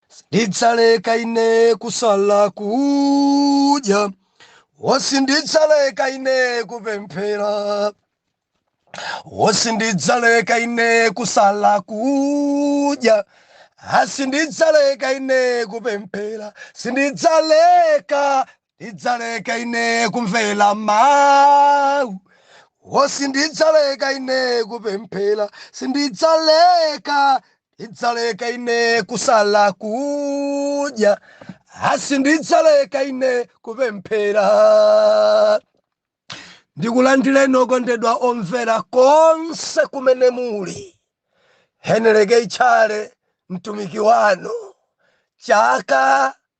Sindidzaleka ine kusala kudya, wo sindidzaleka ine kupemphera, wo sindidzaleka ine kusala kudya, a sindidzaleka ine kupemphera, sindidzaleka ndidzaleka ine kumvera mawu wo sindidzaleka ine kupemphera sindidzaleka ndidzaleka ine kusala kudya a sindidzaleka ine kupemphera ndikulandireni okondedwa omvera konse kumene muli Henry K Tchale mtumiki wanu chaka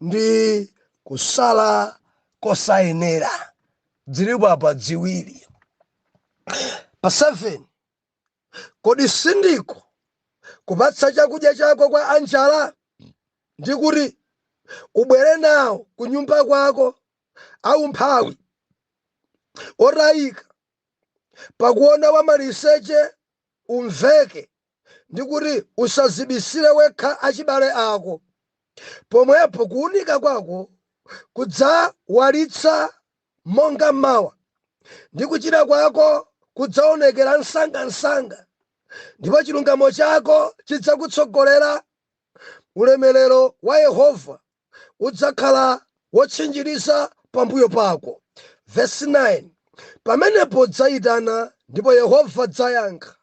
ndi kusala kosayenera dzilipo apa dziwiri pa 7 kodi sindiko kupatsa chakudya chako kwa anjala ndi kuti ubwere nawo ku nyumba kwako aumphawi otayika pakuona wamaliseche umveke ndi kuti, Usadzibisire wekha achibale ako, pomwepo kuunika kwako kudzawalitsa monga m'mawa, ndi kuchira kwako kudzaonekera msangamsanga, ndipo chilungamo chako chidzakutsogolera, ulemerero wa Yehova udzakhala wotchinjiriza pambuyo pako. Vesi 9, Pamenepo udzaitana, ndipo Yehova adzayankha.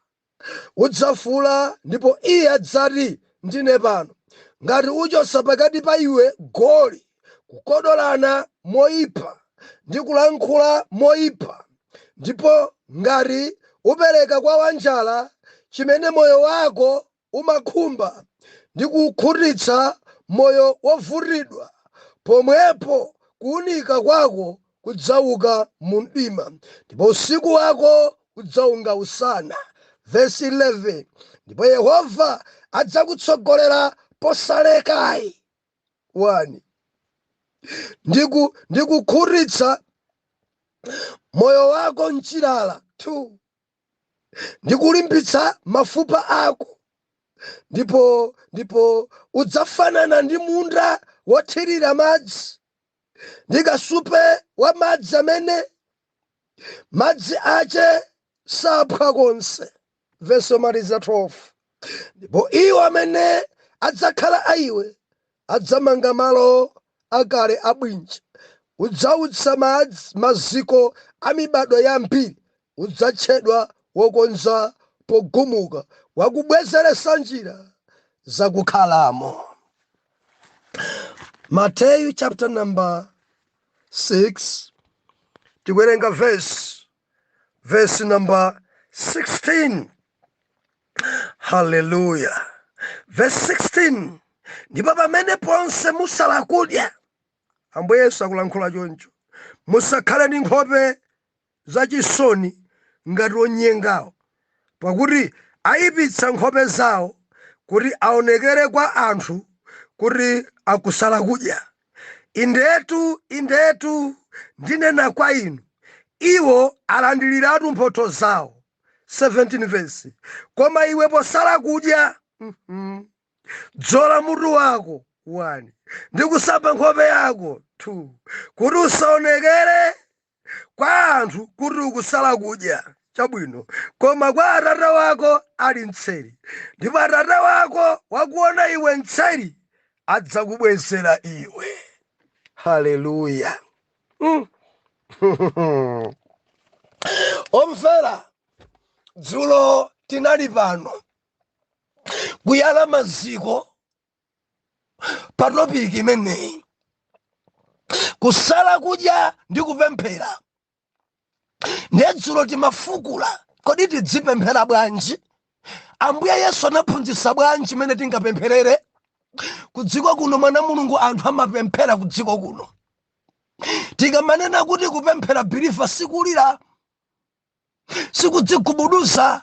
Udzafuula, ndipo Iye adzati, Ndine pano. Ngati uchotsa pakati pa iwe goli, kukodolana moyipa, ndi kulankhula moyipa, ndipo ngati upereka kwa wanjala chimene moyo wako umakhumba, ndi kukhutitsa moyo wovutidwa, pomwepo kuwunika kwako kudzauka mu mdima, ndipo usiku wako udzaunga usana. Vesi 11, ndipo Yehova adzakutsogolera posalekai 1 ndi ku ndi kukhutitsa moyo wako m'chilala 2 ndi kulimbitsa mafupa ako ndipo ndipo udzafanana ndi munda wothirira madzi ndi kasupe wa madzi amene madzi ache saphwa konse vesi yomaliza 12 ndipo iwo amene adzakhala a iwe adzamanga malo akale abwinja udzautsa madzi maziko a mibadwo yambiri udzatchedwa wokonza pogumuka, wakubwezeresa njira zakukhalamo. Mateyu chapter number 6 tikuwerenga verse number 16 haleluya verse 16 ndipo pamene ponse musala kudya ambuye yesu akulankhula choncho musakhale ndi nkhope zachisoni ngati onyengawo, pakuti aipitsa nkhope zao kuti aonekere kwa anthu kuti akusala kudya. Indetu, indetu, ndinena kwa inu, iwo alandiriratu mphotho zao. 17 verse koma iwe posala kudya mhm, dzola mutu wako 1 ndi kusamba nkhope yako 2 kuti usaonekere kwa anthu kuti ukusala kudya chabwino koma kwa atate wako ali mtseri ndipo atate wako wakuona iwe mtseri adzakubwezera iwe haleluya mm. omvera dzulo tinali pano kuyala maziko pa topiki imeneyi kusala kudya ndi kupemphera ndiye dzulo timafukula kodi tidzipemphera bwanji ambuye yesu anaphunzitsa bwanji mmene tingapempherere kudziko kuno mwana mulungu anthu amapemphera kudziko kuno tikamanena kuti kupemphera believer sikulira sikudzigubuduza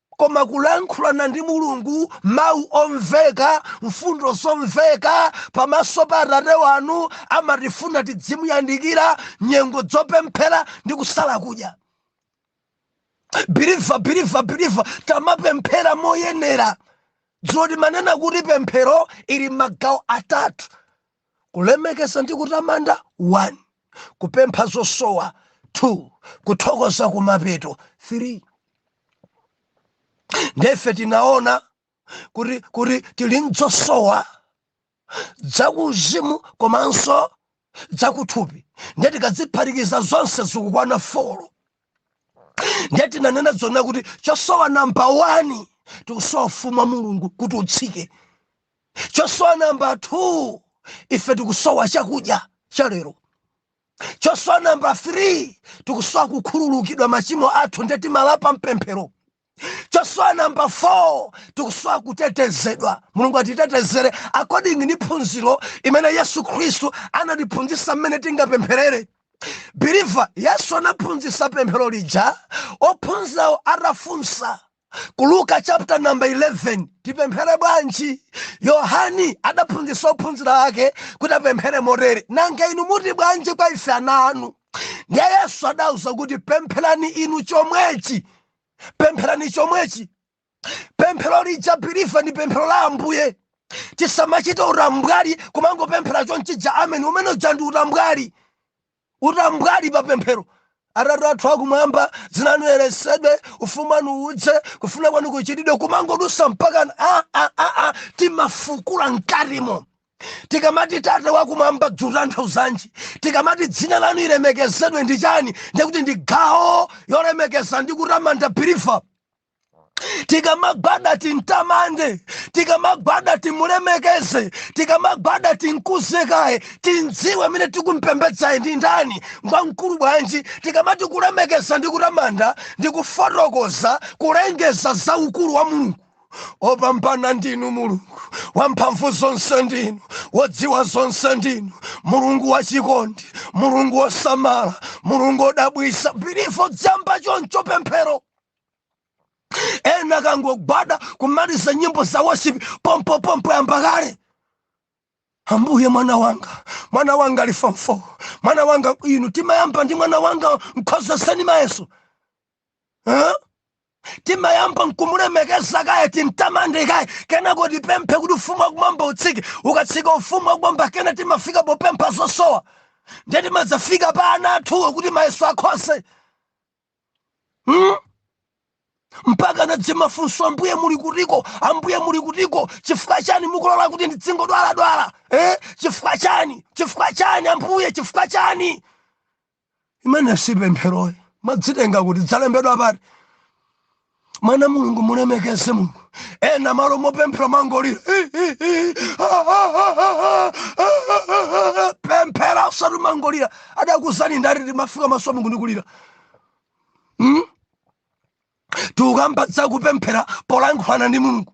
Koma kulankhulana ndi Mulungu, mawu omveka, mfundo zomveka, pamaso pa Atate wanu amatifuna tidzimuyandikira, nyengo zopemphera ndi kusala kudya. Believer, believer, believer, tamapemphera moyenera. Dzulo timanena kuti pemphero ili m'magawo atatu. Kulemekeza ndi kutamanda 1. Kupempha zosowa 2. Kuthokoza kumapeto 3. Nde ife tinaona kuti kuti tili ndi zosowa zakuuzimu komanso zakuthupi ndiye tikaziphatikiza zonse zikukwana folo ndiye tinanena zonena kuti chosowa namba 1 tikusowa ufumu wa mulungu kuti utsike Chosowa namba 2, ife tikusowa chakudya cha lero. Chosowa namba 3, tikusowa kukhululukidwa machimo athu nde timalapa mpemphero. Chosowa namba 4, tikusowa kutetezedwa. Mulungu atitetezere according ndi phunziro imene Yesu Khristu anatiphunzisa mmene tingapempherere. Believer, Yesu anaphunzisa pemphero lija ophunzirawo atafunsa. ku luka chapter number 11 tipemphere bwanji yohani adaphunzitsa ophunzira ake kuti apemphere motere nanga inu muti bwanji kwa ife ana anu ndiye yesu adauza kuti pempherani inu chomwechi pempherani chomwechi pemphero lija believer ndi pemphero la ambuye tisamachite utambwali kumangopemphera chonchi ja ameni umene uja ndi utambwali Utambwali pa pemphero. Atate athu Akumwamba, dzina lanu liyeretsedwe, ufumu wanu udze, kufuna kwanu kuchitidwe, kumangodusa mpakana timafukula mkatimo. Tikamati tate wakumwamba dzutanthauzanji? Tikamati dzina lanu lilemekezedwe ndi chani? Ndikuti ndi gawo yolemekeza ndi kutamanda believer. tikamagwada timtamande tikamagwada timulemekeze tikamagwada timkuze kaye timdziwe amene tikumpembedzayo ndi ndani ngwamkulu bwanji tikamati kulemekeza ndi kutamanda ndi kufotokoza kulengeza za ukulu wa mulungu opambana ndinu mulungu wamphamvu zonse ndinu wodziwa zonse ndinu mulungu wachikondi mulungu wosamala mulungu odabwisa believer dziyamba choncho pemphero ena akangogwada kumaliza nyimbo za worship pompo pompo yamba kale ambuye mwana wanga mwana wanga ali form 4 mwana wanga inu timayamba ndi mwana wanga mkhozeseni mayeso huh? timayamba nkumulemekeza kaye timtamande kaye kenako tipemphe kuti ufumu wakumwamba utsike ukatsika ufumu wakumwamba kena timafika popempha zosowa ndiye timadzafika pa ana athuwo kuti mayeso akhoze hmm? mpaka nadzimafunso ambuye muli kutiko ambuye muli kutiko chifukwa chani mukulola kuti ndidzingodwaladwala eh? chifukwa chani chifukwa chani ambuye chifukwa chani imene si pempheroyi madzitenga kuti dzalembedwa pati mwana mulungu mulemekeze mulungu ena malo mopemphera mangolira pemphera usati mangolira adakuuzani ndati timafika maso a mulungu ndikulira hmm? tukamba za kupemphera polankhulana ndi mulungu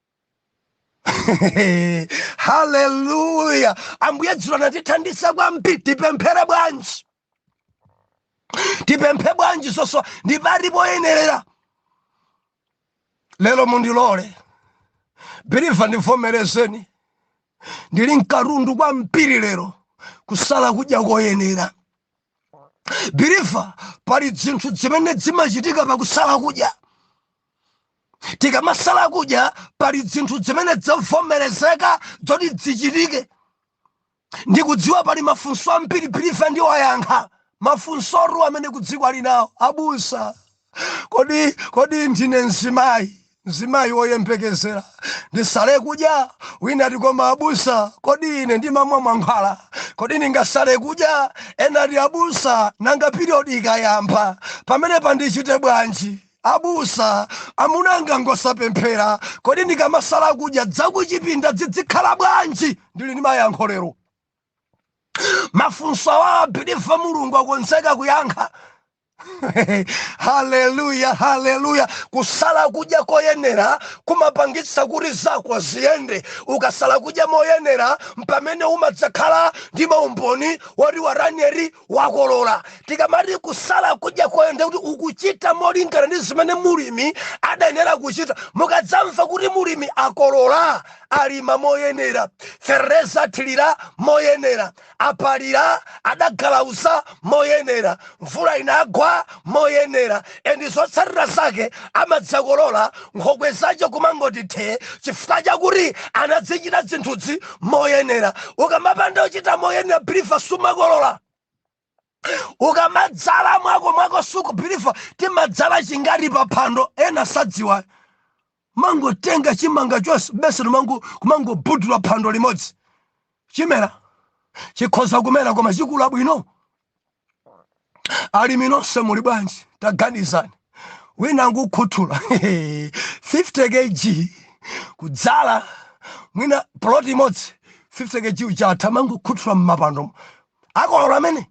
haleluya ambuye dzulo anatithandiza kwambiri tipemphere bwanji tipemphe bwanji zosowa ndi pati poyenerera lero mundilole believer ndivomerezeni ndili nkatundu kwambiri lero kusala kudya koyenera believer pali dzinthu dzimene dzimachitika pakusala kudya tikamasala kudya pali dzinthu dzimene dzavomerezeka dzoti dzichitike ndikudziwa pali mafunso ambiri believer ndiwayankha mafunsotu amene kudziko ali nawo abusa kodi kodi ndine mzimayi mzimayi woyembekezera ndisale kudya wina ati koma abusa kodi ine ndimamwa mankhwala kodi ndingasale kudya ena ati abusa nanga piriyodi ikayamba pamenepa ndichite bwanji Abusa, amuna anga ngosapemphera, kodi ndikamasala kudya dzakuchipinda dzidzikhala bwanji? Ndili ndi mayankho lero. Mafunso awa believer Mulungu akonzeka kuyankha. haleluya haleluya kusala kudya koyenera kumapangitsa kuti zako ziyende ukasala kudya moyenera mpamene umadzakhala ndi maumboni woti waranieri wakolola tikamati kusala kudya koyenera ndi kuti ukuchita molingana ndi zimene mulimi adayenera kuchita mukadzamva kuti mulimi akolola alima moyenera feteleza athilira moyenera apalira adagalauza moyenera mvula inagwa moyenera and zotsatira zake amadzakolola nkhokwe zache kumangoti the chifukwa chakuti anadzichita zinthuzi moyenera ukamapanda kuchita moyenera believer sumakolola ukamadzala mwako mwako suku believer timadzala chingati pa phando ena sadziwa mangotenga chimanga chonse bese kumangobudula phando limodzi chimera chikhoza kumera koma chikula bwino alimi nonse muli bwanji taganizani wina nkukhuthula 50 kg kudzala mwina plot imodzi 50 kg chatha mangokhuthula mmapando akolola amene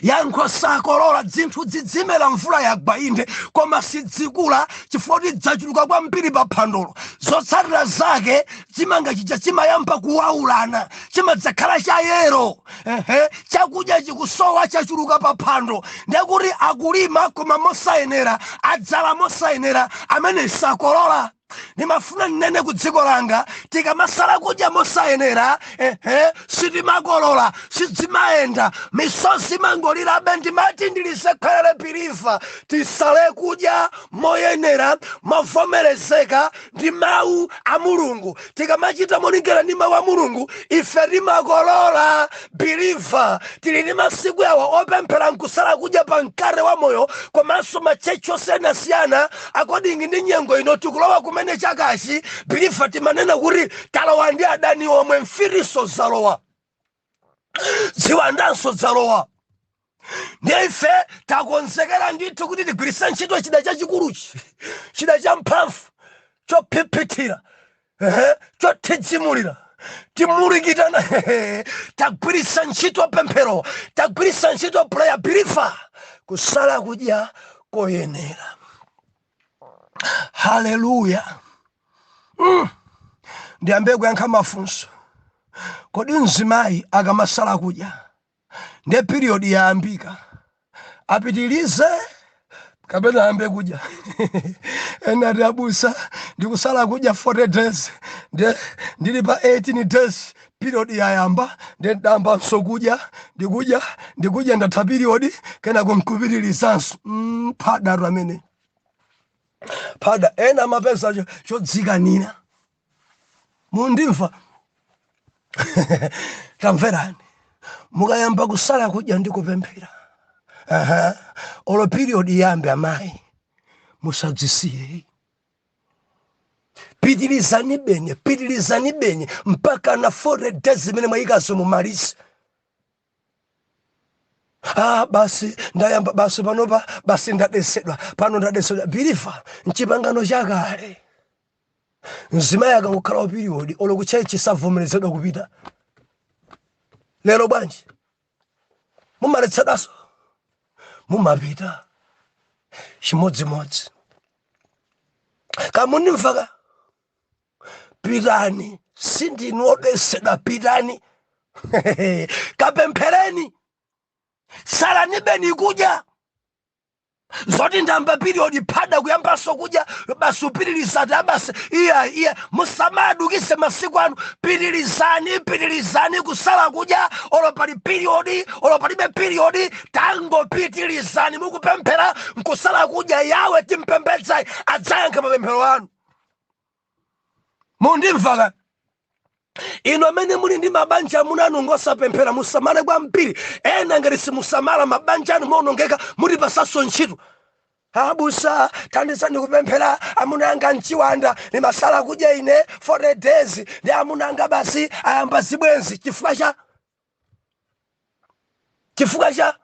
Yankho, Sakolola. Dzinthu dzidzimera mvula yagwa inde, koma sidzikula chifukwa kuti dzachuluka kwambiri pa phandolo. Zotsatira zake chimanga chija chimayamba kuwaulana, chimadzakhala cha yelo. Ehe, chakudya chikusowa chachuluka pa phando ndiye kuti akulima koma mosayenera, adzala mosayenera, ameneyi sakolola. ndimafuna ninene ku dziko langa tikamasala kudya mosayenera ehe sitimakolola sidzimayenda misozi imangolirabe ndimati ndilisekerere biliva tisale kudya moyenera movomerezeka ndi mawu a mulungu tikamachita molingana ndi mawu a mulungu ife timakolola biliva tili ndi masiku awa opemphera nkusala kudya pa mkate wa moyo komanso matchetchi osiyanasiyana according ndi nyengo ino tikulowa kumene chakachi biliva timanena kuti talowa ndi adani omwe mfitinso zalowa ziwandanso zalowa ndiye ife takonzekera ndithu kuti tigwiritsa ntchito chida chachikuluchi chida cha mphamvu chophiphithira ehe, chothidzimulira timulikitana hehe, tagwiritsa ntchito pemphero tagwiritsa ntchito prayer biliva kusala kudya koyenera haleluya mm. ndiyambe kuyankha mafunso kodi mzimayi akamasala kudya ndiye period yayambika apitilize kapena ayambe kudya ena ati abusa ndikusala kudya 40 days ndiye ndili pa 18 days period yayamba ndiye ndayambanso kudya ndikudya ndikudya ndatha period kena kumkupitirizanso mm, phada tu ameneyo phada ena amapeza cho- chodzikanira mundimva tamverani mukayamba kusala kudya ndi kupemphera aha olo period iyambe amayi musadzisiye pitirizanibeni pitirizanibeni mpaka na 40 days zimene mwayikazo mumalize ah basi ndayamba basi panopa basi ndadetsedwa pano ndadetsedwa biliva mchipangano chakale mzimayi akangokhala wa period olo kutchetchi savomerezedwa kupita lero bwanji mumaletsedwanso mumapita chimodzimodzi kamundimvaka pitani sindinu odetsedwa pitani kapemphereni salanibeni kudya zoti ndayamba period phada kuyambanso kudya basi upitiriza ati aa basi iya iya musamadukize masiku anu pitirizani pitirizani kusala kudya olo pali period olo palibe period tangopitirizani mukupemphera nkusala kudya yawe timpembedzayu adzayankha mapemphero anu mundimva ka inu amene muli ndi mabanja amuna anu ngosapemphera musamale kwambiri ena ngati simusamala mabanja anu maonongeka mutipasaso ntchito abusa thandizani kupemphera amuna anga mchiwanda ndimasala kudya ine 40 days ndi amuna anga basi ayamba zibwenzi chifukwa cha chifukwa cha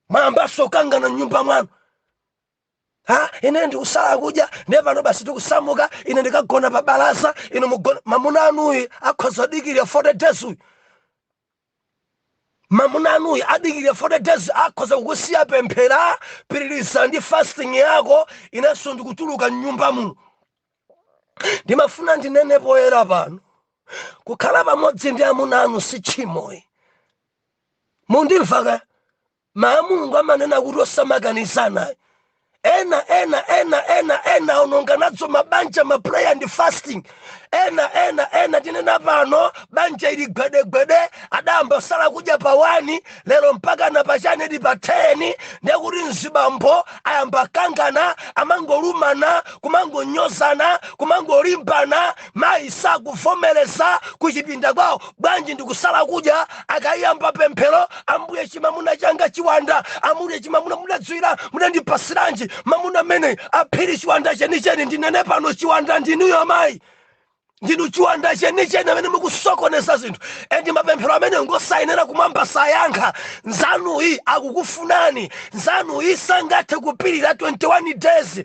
mwayambaso kangana mnyumba mwanu Ha, ine ndikusala kudya ndiye pano basi tikusamuka ine ndikagona pa balaza inu mugona muno mamuna anuyi akhoza kudikirira 40 days uyu mamuna anuyi adikirira 40 days akhoza kukusiya pemphera pitiriza ndi fasting yako inenso ndikutuluka mnyumba muno ndimafuna ndinene poyera pano kukhala pamodzi ndi amuna anu si tchimo ayi mundimva ka Mawu a Mulungu amanena kuti osamakanizana ayi. Ena ena ena ena ena aononga nazo mabanja ma prayer and fasting. Ena ena ena tinena pano banja ili gwedegwede adayamba sala kudya pa 1 lero mpaka na pano ndi pa 10 ndiye kuti mzibambo ayamba kangana amangolumana kumangonyozana kumangolimbana Mayi sakuvomereza kuchipinda kwawo bwanji ndikusala kudya akayamba pemphero ambuye chimamuna changa chiwanda ambuye chimamuna mudadziwira mudandipasiranji mamuna amene aphiri chiwanda chenicheni ndinene pano chiwanda ndinuyo amayi ndinu chiwanda chenicheni amene mukusokoneza zinthu endi mapemphero amene ngosayenera kumwamba sayankha nzanuyi akukufunani nzanuyi sangathe kupirira 21 days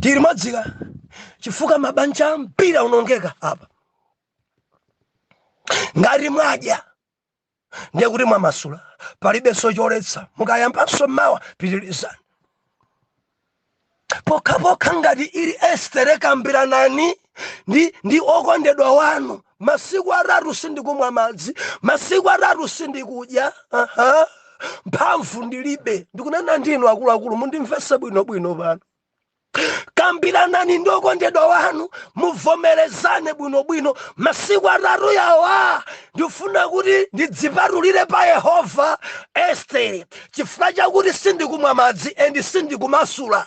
tiri odzuka chifukwa mabanja ambiri aonongeka apa ngati mwadya ndiye kuti mwamasula palibenso choletsa mukayambanso mawa pitirizani pokhapokha ngati ili estere kambiranani ndi, ndi okondedwa wanu masiku atatu sindikumwa madzi masiku atatu sindikudya aha mphamvu ndilibe ndikunena ndinu akuluakulu mundimvese bwinobwino pano kambiranani ndi okondedwa wanu muvomerezane bwinobwino masiku atatu yawa ndifuna kuti ndidzipatulire pa yehova estere chifukwa chakuti sindikumwa madzi endi sindikumasula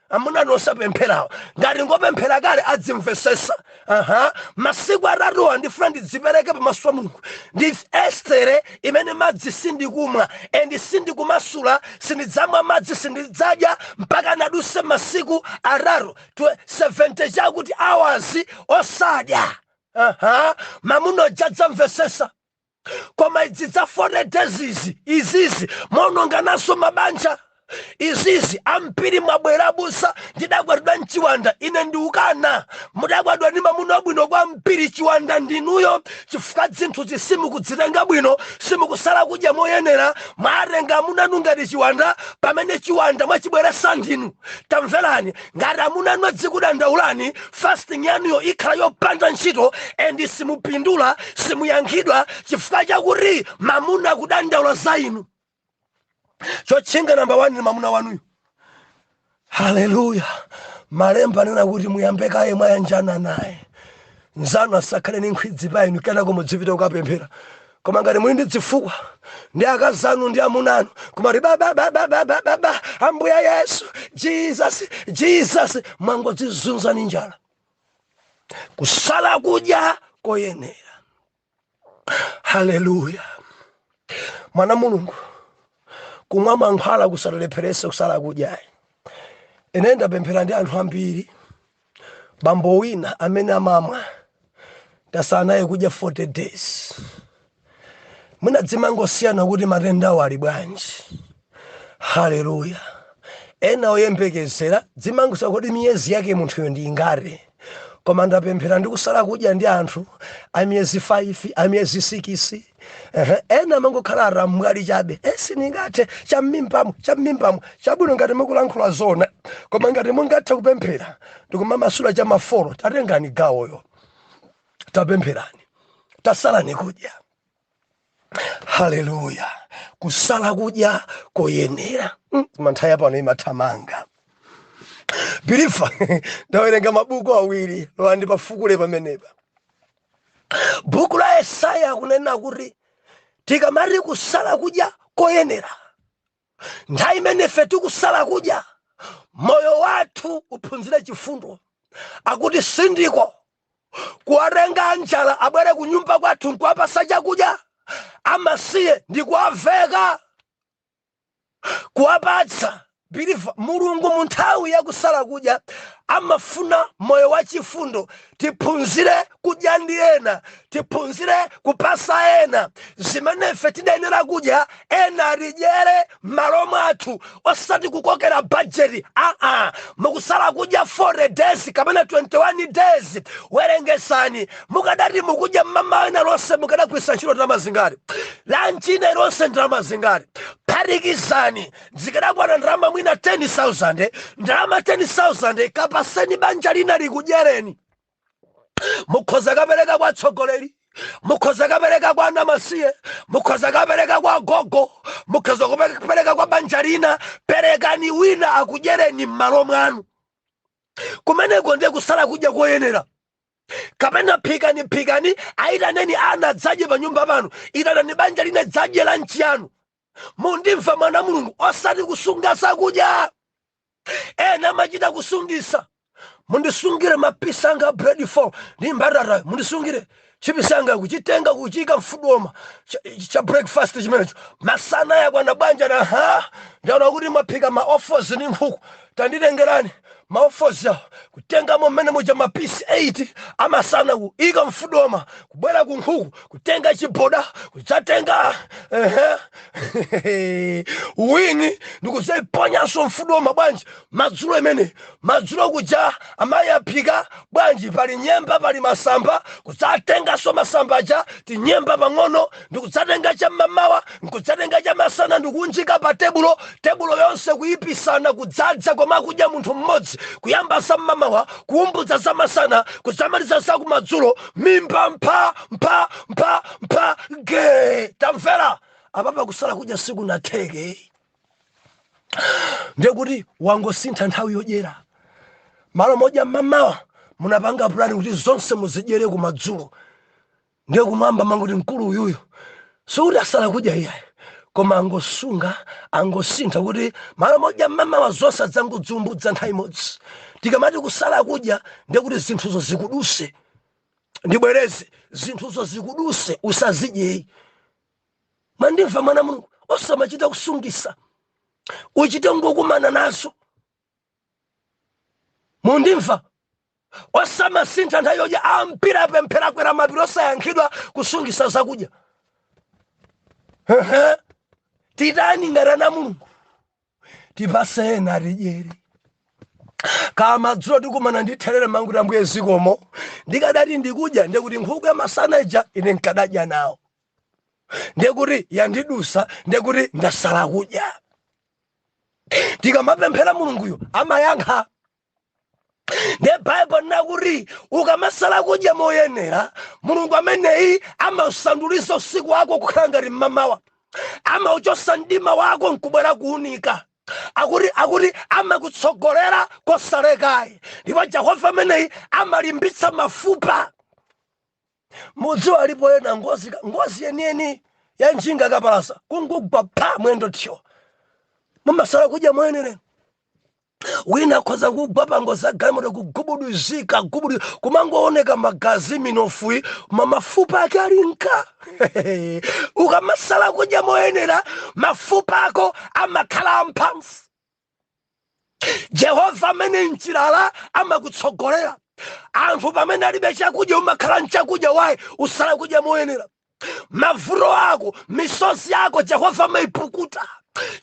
amuna anu osapempherawo ngati ngopemphera kale adzimvesesa aha masiku atatuwa ndifuna ndidzipereke pamaso pa mulungu ndi estere imene madzi sindikumwa endi sindikumasula sindidzamwa madzi sindidzadya mpaka naduse masiku atatu 70 chakuti awazi osadya aha mamuna uja adzamvesesa koma izi za 40 days izi izizi mumaononga nazo mabanja izizi ambiri mwabwera abusa ndidakwatiwa ndi chiwanda ine ndiukana mudakwatiwa ndi mamuna wabwino kwambiri chiwanda ndinuyo chifukwa zinthuzi simukudzitenga bwino simukusala kudya moyenera mwatenga amuna anu ngati chiwanda pamene chiwanda mwachibweresa ndinu tamverani ngati amuna anu azikudandaulani fasting yanuyo ikhala yopanda ntchito and simupindula simuyankhidwa chifukwa chakuti mamuna akudandaula za inu chotchinga namba 1 ni mamuna wanuyo haleluya malemba anena kuti muyambe kaye mwayanjana naye nzanu asakhale ni nkhwidzi pa inu kenako mudzipita kukapemphera koma ngati muli ndi dzifukwa ndi akazi anu ndi amuna anu kumati bababababababa ambuye yesu jesus jesus mwangodzizunza ni njala kusala kudya koyenera haleluya mwana mulungu kumwa mankhwala kusatilepherese kusala kudyayi ine ndapemphera ndi anthu ambiri Bambo wina amene amamwa tasala naye kudya 40 days mwina dzimangosiyana kuti matendawo ali bwanji haleluya ena oyembekezera dzimangosiyana kuti miyezi yake munthuyo ndi ingati koma ndapemphera ndi kusala kudya ndi anthu a miyezi 5 a miyezi 6 ehe ena amangokhala alamwali chabe e sindingathe cham'mimbamo cham'mimbamo chabwino ngati mukulankhula zona koma ngati mungathe kupemphera ndikumamasula cha mafolo tatengani gawoyo tapempherani tasalani kudya haleluya kusala kudya koyenera mm, manthawi pano imathamanga believer ndawerenga mabuku awiri lolani ndipafukule pamenepa Buku la Yesaya akunena kuti tikamati kusala kudya koyenera, nthawi imene ife tikusala kudya, moyo wathu uphunzire chifundo. Akuti sindiko kuwatenga anjala abwere kunyumba kwathu nkuwapasa chakudya amasiye ndi kuwaveka kuwapatsa believer mulungu mu nthawi ya kusala kudya amafuna moyo wa chifundo tiphunzire kudya ndi ena tiphunzire kupasa ena zimene ife tidayenera kudya ena alidyere m'malo mwathu osati kukokera bajeti aa mukusala kudya 40 days kapena 21 days werengesani mukadati mukudya mmamawa inayilonse mukadagwiritsa ntchito ndalama zingati lanchi ina ilonse ndalama zingati phatikizani zikadakwana ndalama mwina 10000 ndalama 10000 kapaseni banja lina likudyereni mukhoza kapereka kwa atsogoleri mukhoza kapereka kwa anamasiye mukhoza kapereka kwa gogo mukhoza kapereka kwa banja lina perekani wina akudyereni m'malo mwanu kumeneko ndiye kusala kudya koyenera kapena phikani phikani ayitaneni ana adzadye pa nyumba panu itanani banja lina lidzadye lanchi yanu mundimva mwana wa mulungu osati kusunga zakudya ena amachita kusungisa mundisungire mapisa anga bread four ndi mbatata mundisungire chipisa anga kuchitenga kuchiika mfudoma cha breakfast chimenecho masana yakwana bwanji aha ndaona kuti mwaphika ma offals ndi nkhuku Tanditengerani ma offals awo, kutengamo mmene muja ma piece 8 a masana kuika mfudoma, kubwera ku nkhuku, kutenga chiboda, kudzatenga wing ndikudzaiponyanso mfudoma bwanji madzulo imene madzulo kuja amayi aphika bwanji pali nyemba pali masamba kudzatenganso masamba aja tinyemba pang'ono ndikudzatenga cham'mamawa nkudzatenga chamasana ndikuunjika pa tebulo tebulo yonse kuyipitsana kudzadza koma akudya munthu mmodzi kuyamba zam'mamawa kuumbudza zamasana kudzamaliza zakumadzulo mimba mpha mpha mpha mpha ge tamvera apapa kusala kudya sikunatheke ndekuti wangosintha nthawi yodyera m'malo modya m'mamawa munapanga pulani kuti zonse muzidyere kumadzulo ndiye kumwamba amangoti mkulu uyuyu sikuti asala kudya iyayi koma angosunga angosintha kuti m'malo modya mmamawa zonse adzangoziumbudza nthawi imodzi tikamati kusala kudya ndiye kuti zinthuzo zikuduse ndibwereze zinthuzo zikuduse usazidyeyi mwandimva mwana wa mulungu osamachita kusungisa uchite kukumana nazo mundimva osamasintha nthawi yodya ambiri apemphera akwera mapiri osayankhidwa kusungisa zakudya titani ngati ana a mulungu tipase ena atidyere kumadzulo tikumana ndi therere umangoti ambuye zikomo ndikadati ndikudya ndekuti nkhuku ya masana ija ine nkadadya nawo ndekuti yandidusa ndekuti ndasala kudya tikamapemphera mulunguyo amayankha nde baibulo nakuti ukamasala kudya moyenera mulungu ameneyi amausanduliza usiku wako kukhala ngati mmamawa amauchosa mdima wako nkubwera kuunika akuti akuti amakutsogolera kosalekayi ndipo jehova ameneyi amalimbitsa mafupa Mudziwa alipo ena ngozi ka ngozi yeniyeni ya njinga kapalasa kungugwa pa mwendo thyo mumasala kudya moyenerayi wina akhoza kugwa pangozi yagalimoto kugubuduzika gubudu kumangooneka magazi minofuyi ma mafupa ake ali nga ukamasala kudya moyenera mafupa ako amakhala amphamvu jehova ameneyi mchilala amakutsogolera anthu pamene alibe chakudya umakhala nchakudya why usala kudya moyenera mavuto ako misozi yako jehova amaipukuta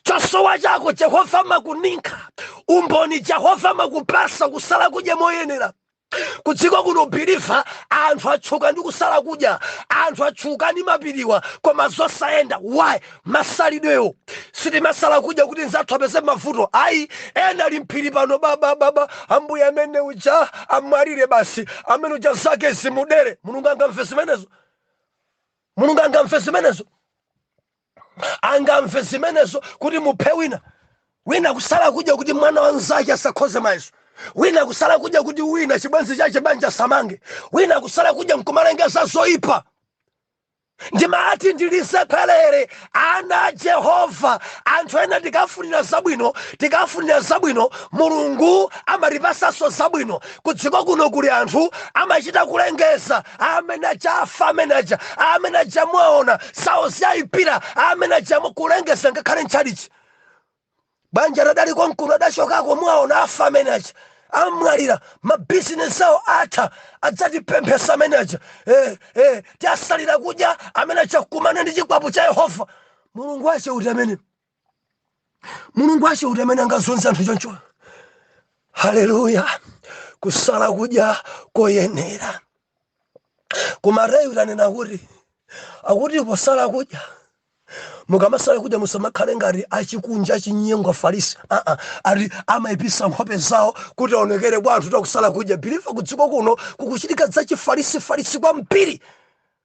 chosowa chako jehova amakuninkha umboni jehova amakupasa kusala kudya moyenera kudziko kuno biliva anthu atchuka ndi kusala kudya anthu atchuka ndi mapiriwa koma zosayenda why masalidwewo sitimasala kudya kuti nzathu apeze mavuto ayi ena ali mphiri pano babababa ambuye amene uja amwalire basi amene uja zake zimudere mulungu angamve zimenezo mulungu angamve zimenezo angamve zimenezo kuti muphe wina wina kusala kudya kuti mwana wa mnzake asakhoze mayeso wina kusala kudya kuti wina chibwenzi chake banja samange wina kusala kudya nkumalengeza zoyipa ndimati ndilisekelere ana a jehova anthu ena tikafunira zabwino tikafunira zabwino mulungu amatipasanso zabwino kudziko kuno kuli anthu amachita kulengeza amene aja afa amene aja amene aja mwaona zawo zawayipira amene aja kulengeza ngakhale ntchalichi banja lidali konkuno adachokako mwaona afa amene aja amwalira mabizinesi awo atha adzatipemphesa amene aja eh, eh, tiasalira kudya amene aja kukumana ndi chikwapu cha yehova mulungu wache uti amene mulungu wache uti amene angazunze anthu choncho haleluya kusala kudya koyenera koma Mateyu tanena kuti akuti posala kudya mukamasala kudya musamakhale ngati achikunja achinyengo afarisi aa ati amaipisa nkhope zawo kuti aonekere kwa anthu kuti akusala kudya biliva kudziko kuno kukuchitika zachifarisifarisi kwambiri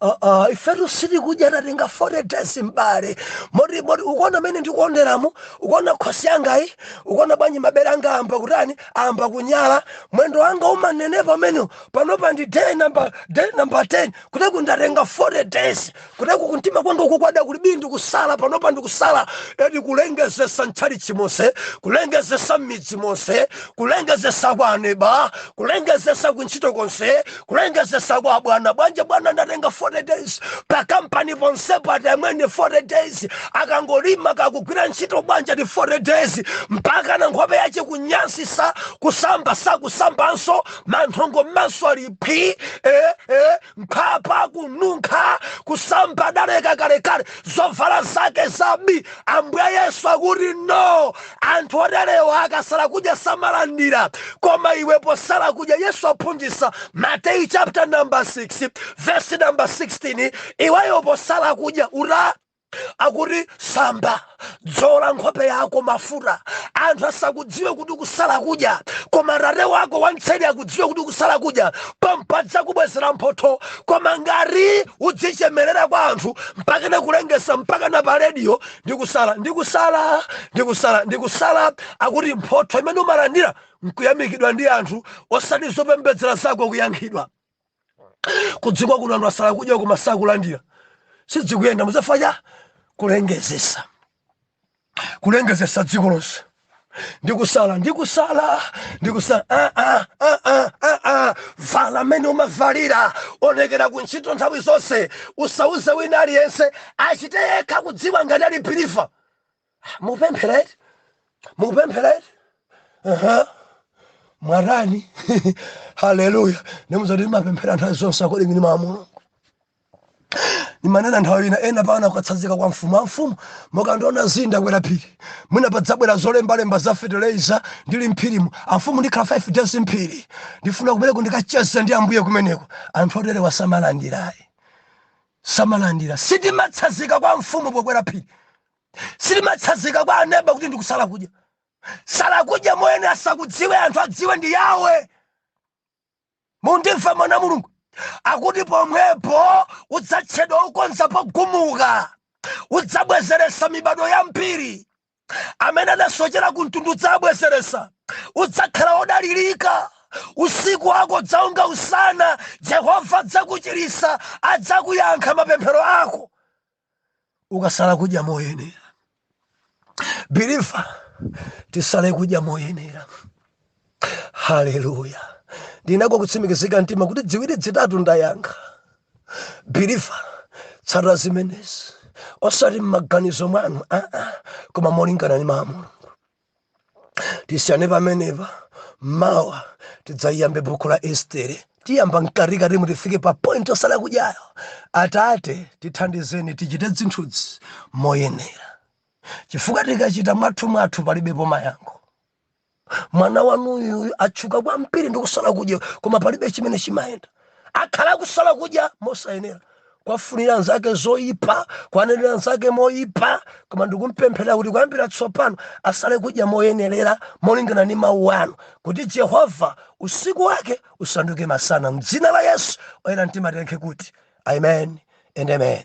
Uh, uh, ifetu sitikudya tatenga 40 days m'bale moti moti ukuona mene ndikuonderamo ukuona khosi yangayi ukuona bwanji mabere anga amba kutani amba kunyala mwendo wanga umanenepa umene panopa ndi day number day number 10 kuteku ndatenga 40 days kuteku kumtima kwangaku kwada kuli bi ndikusala panopa ndikusala edi kulengezesa ntchalichi monse kulengezesa m'midzi monse kulengezesa kwa aneba kulengezesa kuntchito konse kulengezesa kwa bwana bwanji abwana ndatenga 40 days pa kampani ponsepo ati amwene 40 days akangolima kakugwira ntchito bwanji ati 40 days mpakana nkhope yache kunyansisa kusamba sakusambanso manthongo mmanso ali phi eh, eh, mkhwapa kununkha kusamba adaleka kalekale zovala zake za bi ambuye yesu akuti no anthu oterewa akasala kudya samalandira koma iwe posala kudya yesu aphunzitsa mateyu chapter number 6 verse number 16 iweyo posala kudya ura akuti samba dzola nkhope yako mafuta anthu asakudziwe kuti ukusala kudya koma tate wako wamtseri akudziwe kuti ukusala kudya pompo adzakubwezera mphotho koma ngati udzichemerera kwa anthu mpakana kulengesa mpakana pa rediyo ndikusala ndikusala ndikusala ndikusala akuti mphotho imene umalandira nkuyamikidwa ndi anthu osati zopembedzera zako kuyankhidwa kudziko kuno anthu asala kudya koma sakulandira sidzikuyenda muzafa cha kulengezesa kulengezesa dziko lonse ndikusala ndikusala ndikusala ah, ah, ah, ah, ah, ah. vala mmene umavalira onekera ku ntchito nthawi zonse usauze wina aliyense achite yekha kudziwa ngati ali believer mupemphere eti mupemphere eti Aha. mwatani haleluya ndimuuza kuti ndimapemphera nthawi zonse according ndi mawu a mulungu imanena nthawi ina ena mpakana kukatsazika kwa mfumu amfumu mukandiona zii ndakwera phiri mwina padzabwera zolembalemba za feteleza ndili mphirimo amfumu ndikhala 5 days mphiri ndifuna kumeneko ndikacheze ndi ambuye kumeneko anthu oterewa samalandirayi samalandira sindimatsazika kwa mfumu pokwera phiri sindimatsazika kwa aneba kuti ndikusala kudya sala kudya moyenera asakudziwe anthu adziwe ndi yawe mundimve mwana mulungu akuti pomwepo udzatchedwa okonza pogumuka udzabwezeresa mibadwo yambiri amene adasochera ku mtundu udzabwezeresa udzakhala odalirika usiku wako udzaunga usana jehova adzakuchirisa adzakuyankha mapemphero ako ukasala kudya moyenera believer tisale kudya moyenera haleluya ndinako kutsimikizika mtima kuti dziwiri dzitatu ndayankha believer tsata zimenezi osati m'maganizo mwanu aa koma molingana ndi mawu a mulungu tisiyane pamenepa mawa tidzayiyambe bukhu la estere tiyamba mkatikatimu tifike pa point yosala kudyayo atate tithandizeni tichite zinthuzi moyenera chifukwa tikachita mwathu mwathu palibepo mayankho mwana wanuyu atchuka kwambiri ndi kusala kudya koma palibe chimene chimayenda akhala akusala kudya mosayenera kwafunira anzake zoyipa kwanenera anzake moyipa koma ndikumpempherera kuti kuyambira tsopano asale kudya moyenerera molingana ndi mawu anu kuti jehova usiku wake usanduke masana m'dzina la yesu oyera mtima tiyankhe kuti amen and amen